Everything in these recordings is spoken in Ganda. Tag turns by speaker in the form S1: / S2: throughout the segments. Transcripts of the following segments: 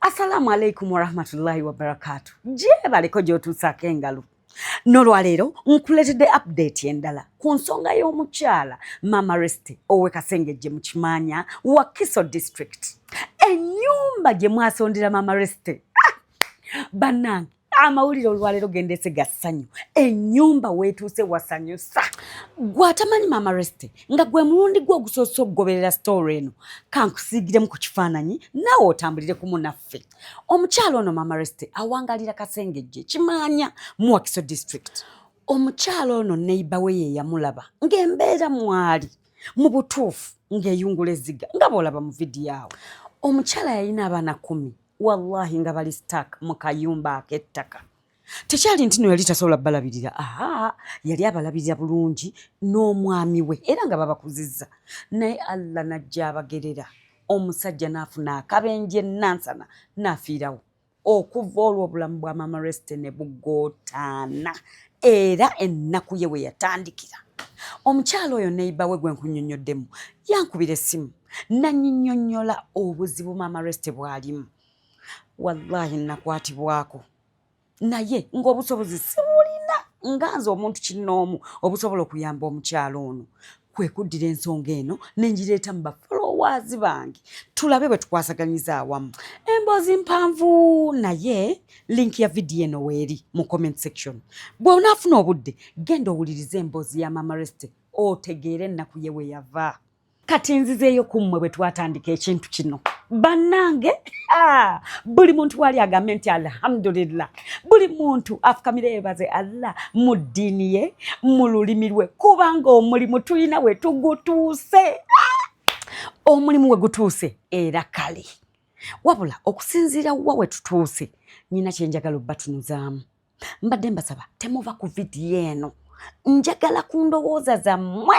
S1: Assalamu alaikum warahmatullahi wabarakatu. Gyebaleko gy'otuusaako engalo. Nolwaleero nkuleetedde update endala ku nsonga y'omukyala Mama Reste owe Kasengejje mu Kimaanya Wakiso district. Ennyumba gye mwasondera Mama Reste ah! bannange amawulire olwaleero gendese ga ssanyu ennyumba weetuuse wasanyusa gwe atamanyi maama resite nga gwe mulundi gwe ogusoose okugoberera sitoori eno kankusiigiremu ku kifaananyi naawe otambulire ku munaffe omukyalo ono maama resite awangalira kasengejje kimaanya muwakiso district omukyalo ono neiba we ye yamulaba ng'embeera mwali mu butuufu ng'eyungula ezziga nga bw'olaba mu vidiyo awo omukyala yalina abaana kumi wallahi nga bali stak mu kayumba ak'ettaka tekyali nti no yali tasobola balabirira aa yali abalabirira bulungi n'omwami we era nga babakuzizza naye allah najja abagerera omusajja n'afuna akabenje enansana n'afiirawo okuva olwo obulamu bwa mama reste ne bugootaana era ennaku ye we yatandikira omukyala oyo neiba we gwe nkunyonyoddemu yankubira essimu nanyinyonyola obuzibu maama reste bwalimu wallahi nakwatibwako naye ngaobusobozi siwulina nga nze omuntu kinoomu obusobola okuyamba omukyalo ono kwe kuddira ensonga eno ne ngireeta mu bafolowaazi bange tulabe bwe tukwasaganyiza awamu emboozi mpanvu naye linki ya vidiyo eno weeri mu comment section bw'onaafuna obudde genda owulirize emboozi ya mama reste otegeere ennaku ye we yava kati nzizeeyo ku mmwe bwe twatandika ekintu kino bannange ah, buli muntu waali agambe nti alhamdulillah buli muntu afukamire yebaze allah mu ddiini ye mu lulimi lwe kubanga omulimu tulina we tugutuuse ah, omulimu we gutuuse era kale wabula okusinziira wa we tutuuse nyina kyenjagala obbatunuzaamu mbadde mbasaba temuva ku vidiyo eno njagala ku ndowooza zammwe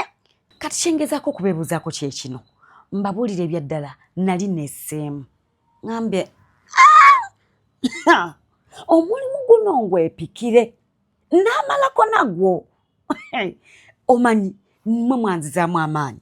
S1: kati kyengezaako okubeebuuzaako kyekino mbabuulire ebyaddala nali neseemu ngambye ah! omulimu guno ngwepikire n'amalako nagwo omanyi mwe mwanzizaamu amaanyi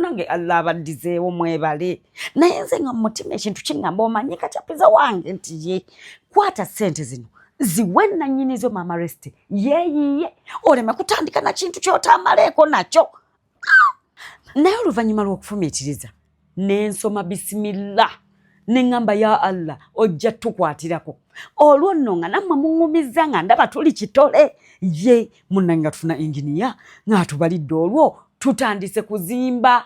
S1: nange allah abaddizeewo mwebale naye nze nga mumutima ekintu kingamba omanye kacapiza wange nti ye kwata sente zino ziwe nanyini zo mama rest yeyiye oleme kutandika na kintu kyotamaleeko nakyo ah! naye oluvannyuma lw'okufumiitiriza nensoma bisimillah ne ŋŋamba ya allah ojja tukwatirako olwo nno nga nammwe muŋumizza nga ndaba tuli kitole ye munnange nga tufuna enginiya ng'atubalidde olwo tutandise kuzimba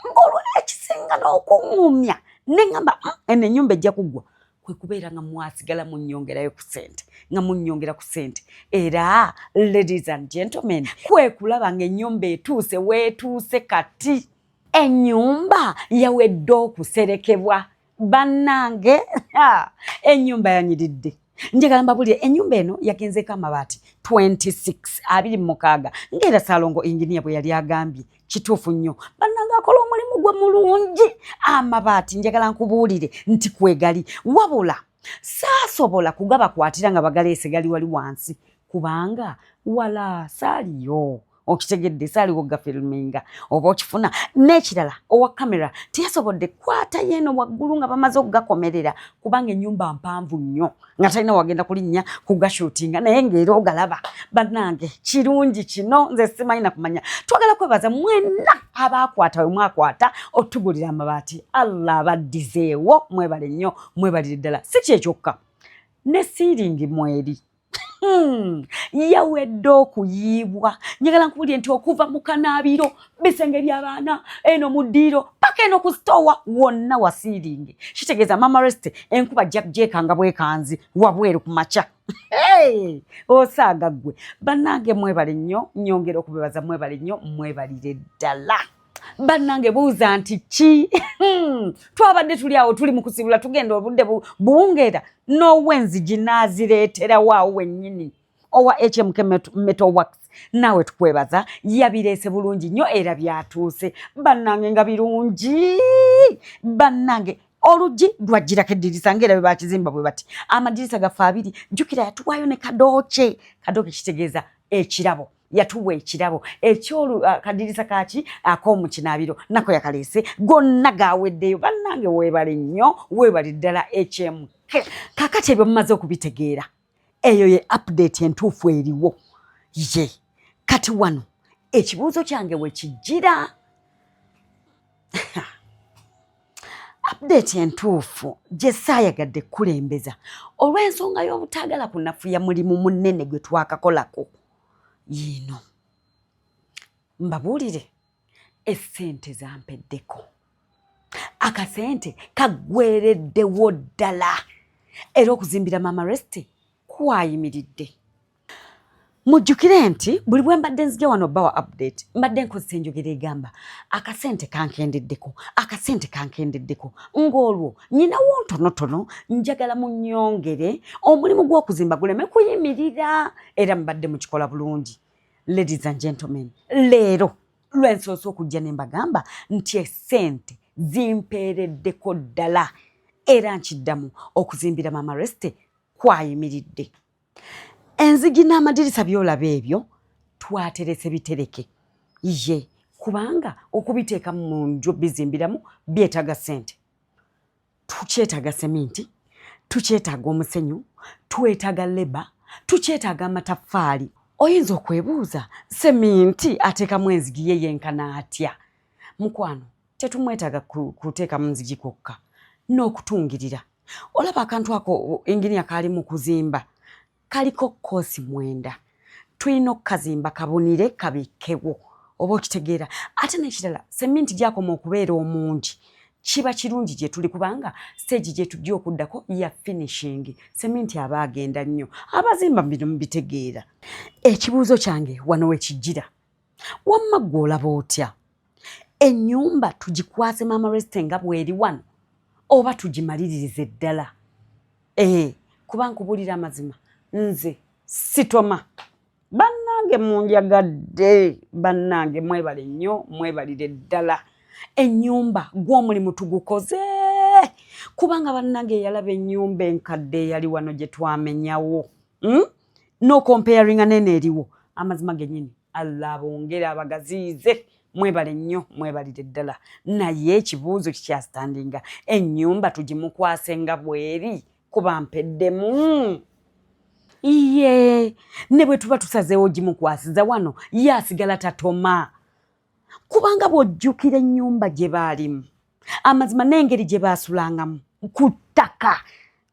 S1: ng'olwo ekisinga n'okuŋumya ne ŋŋamba ah, eno ennyumba ejja kuggwa kwe kubeera nga mwasigala munnyongerayo ku ssente nga munnyongera ku ssente era ladies and gentlemen kwe kulaba ng'ennyumba etuuse weetuuse kati Ennyumba yawedde okuserekebwa bannange, ennyumba yanyiridde. njagala mbabulire enyumba eno yagenzeeko amabaati 26 abiri mumukaaga ngaera salongo enginia bwe yali agambye kituufu nnyo bannanga akola omulimu gwe mulungi amabaati njagala nkubuulire nti kwegali wabula saasobola kugabakwatira nga bagaleese gali wali wansi kubanga wala saaliyo okitegedde saaliwo gafilminga oba okifuna n'ekirala owa kamera teyasobodde kwata yeeno waggulu nga bamaze okugakomerera kubanga ennyumba mpanvu nnyo nga talina wagenda kulinnya kugashutinga naye ngaera ogalaba bannange kirungi kino nze simanyi nakumanya twagala kwebaza mwenna abaakwata we mwakwata otugulira amabaati allah abaddizeewo mwebale nnyo mwebalire ddala si kyekyokka ne siiringi mweri Hmm. yawedde okuyiibwa njagala nkubulire nti okuva mu kanaabiro bisenge byabaana eno mu ddiiro paka eno ku sitoowa wonna wasiiringe kitegeeza mama reste enkuba jjeekanga bwekanzi wabweru ku makya osaaga ggwe bannange mwebale nnyo nyongera okubebaza mwebale nnyo mwebalire ddala bannange buuza nti ki hmm. twabadde tuli awo tuli mu kusibula tugenda obudde buwungeera n'owenzi ginaazireeterawo awo wennyini owa hmk metal works naawe tukwebaza yabireese bulungi nnyo era byatuuse bannange nga birungi bannange oluggi lwajjirako eddirisa ngaera bwe bakizimba bwe bati amadirisa gaffe abiri jjukira yatuwaayo ne kadooke kadooke kitegeeza ekirabo yatuwa ekirabo ekyolukadiriza ah, kaki akomukinabiro ah, nako yakaleese gonna gaweddeyo bannange webale nnyo webale ddala ekyemu kakati ebyo mumaze okubitegeera eyo ye update entuufu eriwo ye kati wano ekibuuzo kyange wekijjira update entuufu gye saayagadde kukulembeza olw'ensonga y'obutaagala kunafuya mulimu munene gwe twakakolako yiino mbabuulire essente zampeddeko akasente kaggwereddewo ddala era okuzimbira maama resiti kwayimiridde mujjukire nti buli bwe mbadde nzija wano bawa update mbadde nkozesa enjogera egamba akasente kankendeddeko akasente kankendeddeko ng'olwo nyinawo ntonotono njagala munyongere omulimu gw'okuzimba guleme kuyimirira era mubadde mukikola bulungi ladies and gentlemen leero lwensoose okujja ne mbagamba nti esente zimpeereddeko ddala era nkiddamu okuzimbira mama reste kwayimiridde enzigi n'amadirisa byolaba ebyo twaterese bitereke ye kubanga okubiteekamu mu nju bizimbiramu byetaaga sente tukyetaaga seminti tukyetaaga omusenyu twetaaga leba tukyetaaga amataffaali oyinza okwebuuza seminti ateekamu enzigi ye yenkana atya mukwano tetumwetaaga kuteekamu nzigi kwokka n'okutungirira olaba akantu ako engini akaali mu kuzimba kaliko koosi mwenda tulina okukazimba kabunire kabikkewo oba okitegeera ate nekirala seminti gyakoma okubeera omungi kiba kirungi gye tuli kubanga siteegi gye tujja okuddako ya finishingi seminti aba agenda nnyo abazimba bino mubitegeera ekibuuzo kyange wano wekijjira wamma gwe olaba otya enyumba tugikwase mama resite nga bweri wano oba tugimaliririze ddala ee kuba nkubulira amazima nze sitoma bannange munjagadde bannange mwebale nnyo mwebalire ddala enyumba gwomulimu tugukoze kubanga bannange eyalaba enyumba enkadde eyali wano gyetwamenyawo hmm? nokomparinga nene eriwo amazima genyini allah abongere abagaziyize mwebale nnyo mwebalire ddala naye ekibuuzo kikyasitandinga ennyumba tugimukwase nga bweri kuba mpeddemu iye ne bwe tuba tusazeewo gimukwasiza wano ye asigala tatoma kubanga bw'ojjukira ennyumba gye baalimu amazima n'engeri gye baasulangamu ku ttaka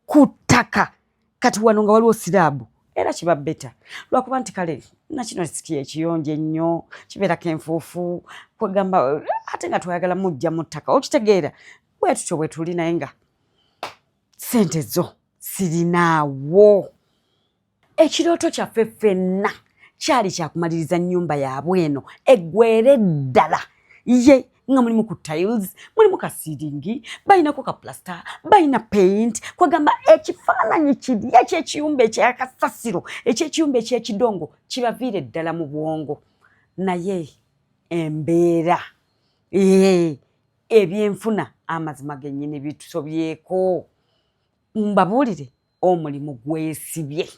S1: ku ttaka kati wano nga waliwo siraabu era kiba beta lwakuba nti kale nakino siki ekiyonjo ennyo kibeerako enfuufu kwegamba ate nga twayagala mujja mu ttaka okitegeera bwe tutyo bwe tuli naye nga sente zo sirinaawo ekirooto kyaffe ffenna kyali kyakumaliriza nnyumba yaabwe eno eggwere ddala ye nga mulimu ku tiles mulimu ka siringi balinako ka plasita balina paint kwegamba ekifaananyi kiri ekyekiyumba ekyakasasiro ekyekiyumba ekyekidongo kibaviire ddala mu bwongo naye embeera ebyenfuna amazima gennyini bitusobyeko mbabuulire omulimu gwesibye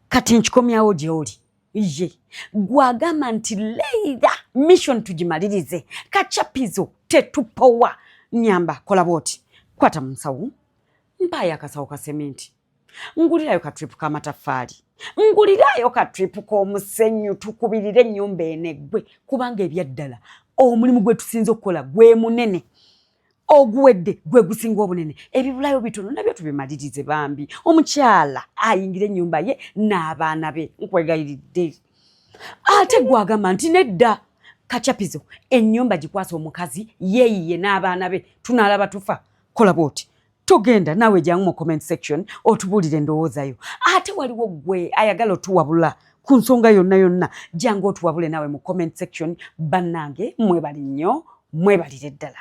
S1: kati nkikomyawo gyoli ye gwagamba nti leira mission tugimalirize kachapizo tetupowa nyamba kola bwoti kwata mu nsawo mpaayo akasawo ka seminti ngulirayo ka tripu k'amataffaali ngulirayo ka tripu k'omusenyu tukubirire ennyumba eneggwe kubanga ebyaddala omulimu gwe tusinza okukola gwe munene oguwedde gwe gusinga obunene ebibulayo bitono nabyo tubimalirize bambi omukyala ayingira ennyumba ye n'abaana be nkwegayiridde ate gwagamba nti nedda kacapizo ennyumba gikwasa omukazi yeeyiye n'abaana be tunaalaba tufa kola bwoti togenda naawe jangu mu comment section otubuulire endowooza yo ate waliwo gwe ayagala otuwabula ku nsonga yonna yonna jangu otuwabule naawe mu comment section bannange mwebali nnyo mwebalire ddala